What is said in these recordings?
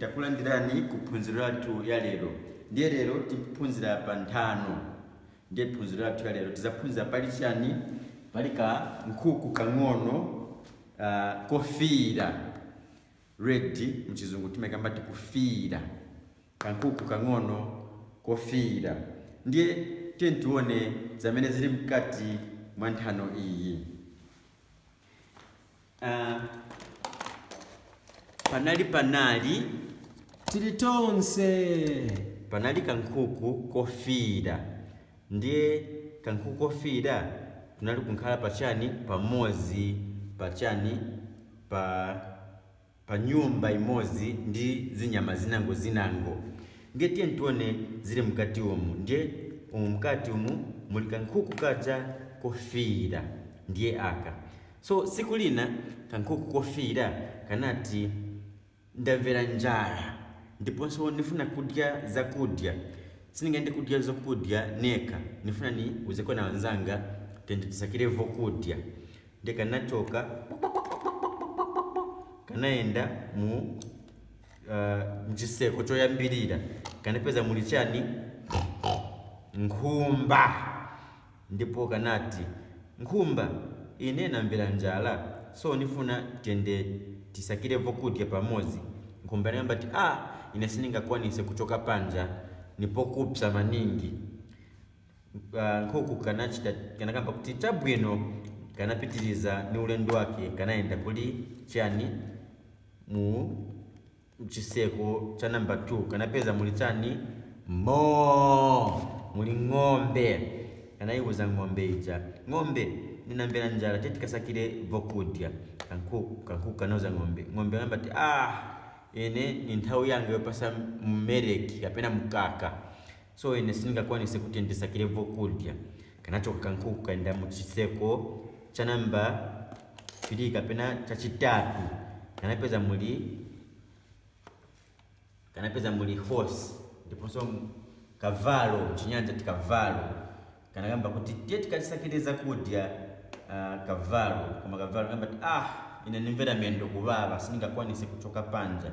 Takulandirani ku phunziro lathu ya lero. Ndiye lero tiphunzira pa nthano. Ndiye phunziro lathu ya lero tidzaphunzira pali chani? Pali ka nkhuku kang'ono ah, kofiira red mchizungu timakamba ti kufiira kankhuku kang'ono kofiira ndiye tiyeni tione zamene zili mkati mwa nthano iyi Ah, panali panali tili tonse panali kankhuku kofiira ndiye kankhuku kofiira tunali kunkhala pachani pamodzi pachani pa panyumba imodzi ndi zinyama zinango zinango ndiye tiyeni tione zili mkati umu ndiye umu mkati umu muli kankhuku kaja kofiira ndiye aka so tsiku lina kankhuku kofiira kanati ndamvera njala ndiponso nifuna kudya zakudya siningayende kudya zokudya neka nifuna niuzeko na wanzanga tende tisakire vokudya nde kanachoka kanayenda mu uh, mchiseko choyambirira kanapeza muli chani nkhumba ndipo kanati nkhumba ine namvera njala so nifuna tende tisakire vokudya pamodzi nkhumba inakamba ti a ine siningakwanise kuchoka panja nipokupsa maningi ka nkhuku kanachita kanakamba kuti chabwino kanapitiriza ni ulendo wake kanayenda kuli chani mu chiseko cha namba 2 kanapeza muli chani mo muli ng'ombe kanayiwuza ng'ombe ija ng'ombe ninamvera njala tiye tikasakire vokudya kankhuku kankhuku kanauza ng'ombe ng'ombe anakamba ti ah ine ni nthawi yanga yopasa mmereki kapena mkaka so ine siningakwanise kuti ndisakile vokudya kanachoka kankhuku kayenda muchiseko cha namba 3 kapena chachitatu kanapeza muli kanapeza muli horse ndiponso kavalo mchinyanja ti kavalo kanakamba kuti tiye tikasakile zakudya uh, kavalo koma kavalo kamba ati ine nimvera mendo kuwawa siningakwanise kuchoka panja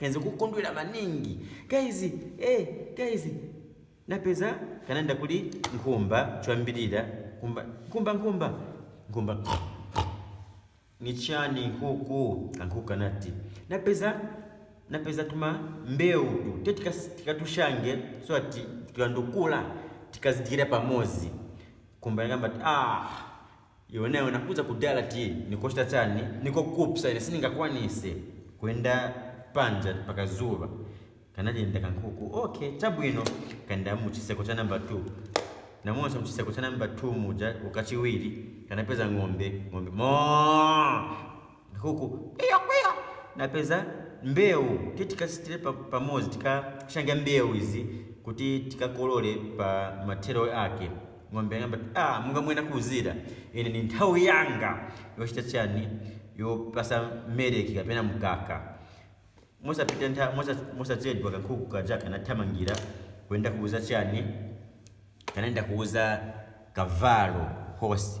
Kenze kukondwela maningi guys eh guys napeza kananda kuli nkhumba choyambirira nkhumba nkhumba nkhumba nkhumba ni chani nkhuku kankhuku kanati napeza napeza tuma mbewu tu te tikas- tikatushange so ati tikandokula tikazidyera pamozi nkhumba yakamba ati ah Iwe nawe nakuuza kudala ti nikochita chani nikokupsa ine siningakwanise kuyenda panja pa kazuba kanadinda ka nkhuku okay chabwino kayenda muchiseko cha number 2 namonso muchiseko cha number 2 muja ukachiwiri kanapeza ng'ombe ng'ombe moo nkhuku kwiyo kwiyo napeza mbewu tiye tikachitire pa pamodzi tikashange mbewu izi kuti tikakolole pa mathero ake ng'ombe yakamba ti ah monga mwe nakuuzira ine ndi nthawi yanga yochita chani yopasa meleki kapena mkaka mosapita ntha mosa- mosachedwa kankhuku kaja kanathamangira kuyenda kuuza chani kanaenda kuuza kavalo hosi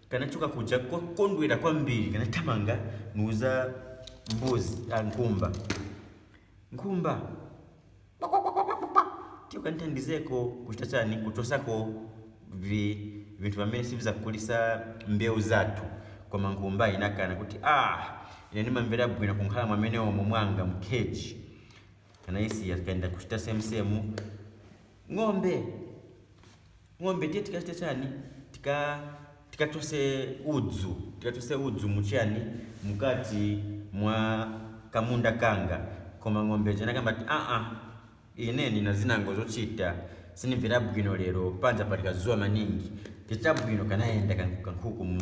kanachoka kuja kokondwera kwambiri kanathamanga niuza mbuzi a nkhumba nkhumba tiyo kanithandizeko kuchita chani kuchosako vi vinthu vamene sivizakulisa mbewu zathu koma nkhumba inakana kuti ah ine ndimamvera bwino kunkhala mwamene omo mwanga mkheji anayisiya kaenda kuchita semsemu ng'ombe ng'ombe tiye tikachite chani tika tikachose udzu tikachose udzu muchani mukati mwa kamunda kanga koma ng'ombe ija inakamba ati aa ine ndina zinango zochita sinimvera bwino lero panja pali kazuwa maningi tichita bwino kanayenda kan- kankhuku mu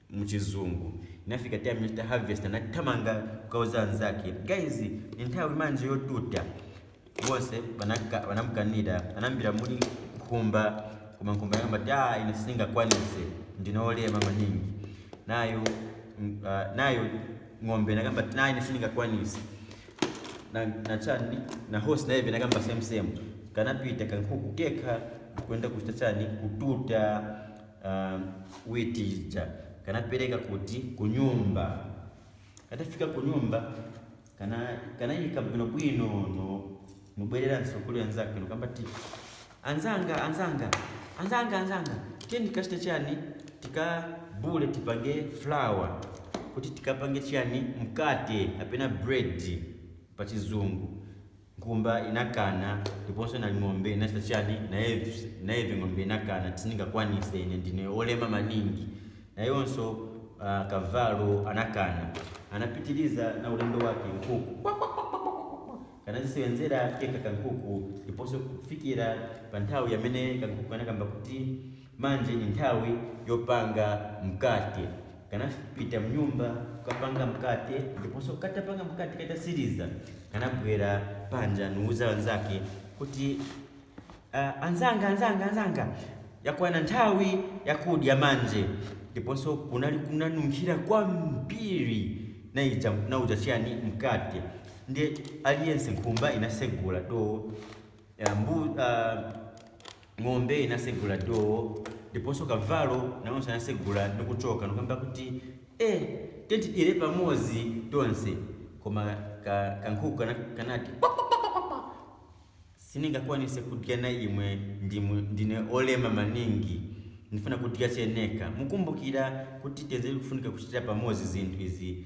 muchizungu inafika time yochita harvest anathamanga kukauza anzake guys ni nthawi manje yotuta bonse banaka- banamukanira anayambira muli nkhumba koma nkhumba yakamba ti "Ah, ine sindingakwanise ndine olema maningi nayo mm, ah, nayo ng'ombe inakamba ti naine sindingakwanise na, na chani na horse nayeve inakamba same same kanapita kankhuku kekha kwenda kuchita chani kututa uh, witi ija kanapereka kuti kunyumba katafika kunyumba kana kanayika bwinobwino no nubwereranso kuli anzake nukamba ti anzanga anzanga anzanga anzanga tiyeni tikachite chani tikabule tipange flour kuti tikapange chani mkate kapena bread pa chizungu Nkhumba inakana ndiponso na ng'ombe inachita chani nayeve Ng'ombe inakana ti sindingakwanise ine ndine olema maningi nayonso Kavalo anakana anapitiliza na ulendo wake Nkhuku Kwakwakwakwakwakwakwa kanazisewenzera kekha kankhuku ndiponso kufikira panthawi yamene kankhuku kanakamba kuti Manje ni nthawi yopanga mkate. Kanapita mnyumba kukapanga mkate ndiponso katapanga mkate katasiliza kanabwera panja nuuza anzake kuti "Ah, anzanga anzanga anzanga yakwana nthawi yakudya manje ndiponso kunali kunanunkhira kwambiri naija nauja chiyani mkate ndi aliyense nkhumba inasegula do ah, mbu, ah, Ng'ombe inasegula dowo ndiponso kavalo nawonso anasegula ndi kuchoka ndikukamba kuti, Eh! Tiyeni tidyere pamodzi tonse. Koma ka kankhuku kana kanati, Kwakwakwakwakwa! Sindingakwanitse kudya na imwe ndimwe ndine olema maningi. Ndifuna kudya che neka. Mukumbukira kuti tenzeli kufunika kuchitira pamodzi zinthu izi.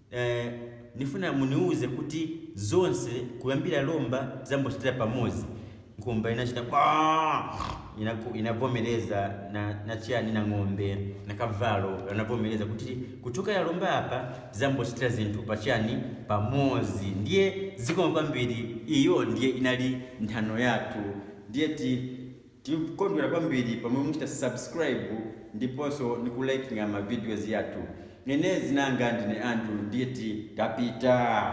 Eh, nifuna muniuze kuti zonse kuyambira lomba zambochitira pamodzi nkhumba inachita kwa inaku- inavomereza na, na chiyani na ng'ombe na kavalo anavomereza kuti kuchokera lomba apa zambochitira zinthu pachiyani pamodzi ndiye zikoma kwambiri iyo ndiye inali nthano yathu ndiye ti Tikondwela kwambili pamwe muchita subscribe ndiponso nikulikinga ma videos yathu. Ine zina langa ndine Andrew ndiye tapita!